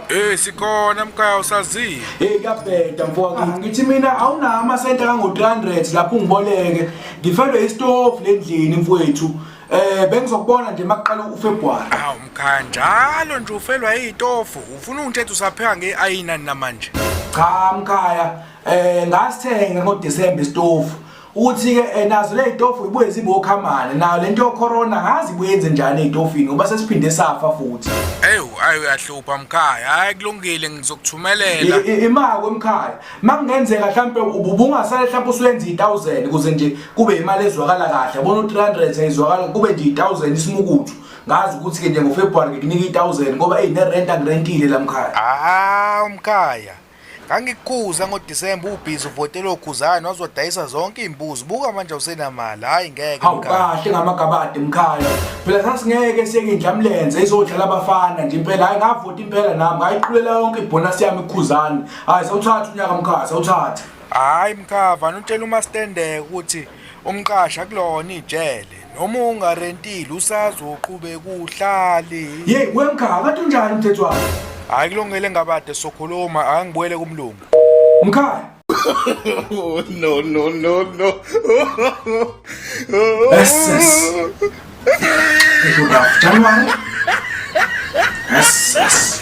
Eh sikona mkhaya usazile. Hey kuyabheda mfowethu. Ah, ngithi mina awunawo amasenta kango 300 lapho ungiboleke. Ngifendwe istove lendlini mfowethu. Eh bengizokubona nje makuqala uFebruary. Awu mkhaya njalo nje ufelwa izitofu. Ufuna ungithethe usapheka ngeayina namanje. Cha mkhaya eh ngasithenga ngo December isitofu. Uthi ke eh, nazo le zitofu ibuye zibokhamane nayo lento yo corona ngazi buyenze njani ezitofini ngoba sesiphinde safa futhi. Ewu ayi uyahlupha mkhaya. Hayi kulungile ngizokuthumelela. Imako mkhaya. makungenzeka mhlampe ubungasale mhlampe usuyenza i1000 kuze nje kube imali ezwakala kahle yabona u300 ayizwakala kube nje i1000 isimukuthu ngazi ukuthi ke nje ngoFebruary ngikunika i1000 ngoba hey nerent angirentile lamkhaya ah umkhaya ngangikuza ngoDisemba ubhizi uvotela okhuzana wazodayisa zonke iimbuzi buka manje usenamali hayi ngeke hawu kahle ngamagabade mkhaya phela sasingeke siyeke indlamlenze izodlala abafana nje impela hayi ngavota impela nami ngayiqulela yonke ibhonasi yami ikhuzana hayi sawuthatha unyaka mkhaya sawuthatha hayi mkhava notshela umastendeke ukuthi umqasha kulona ijele noma ungarentile usazoqhube kuhlali yeyi wemkhava kade unjani umthetho wakho hayi kulungele ngabade sokhuluma angibuyele kumlungu mkhaya oh, no no no no yes yes January yes yes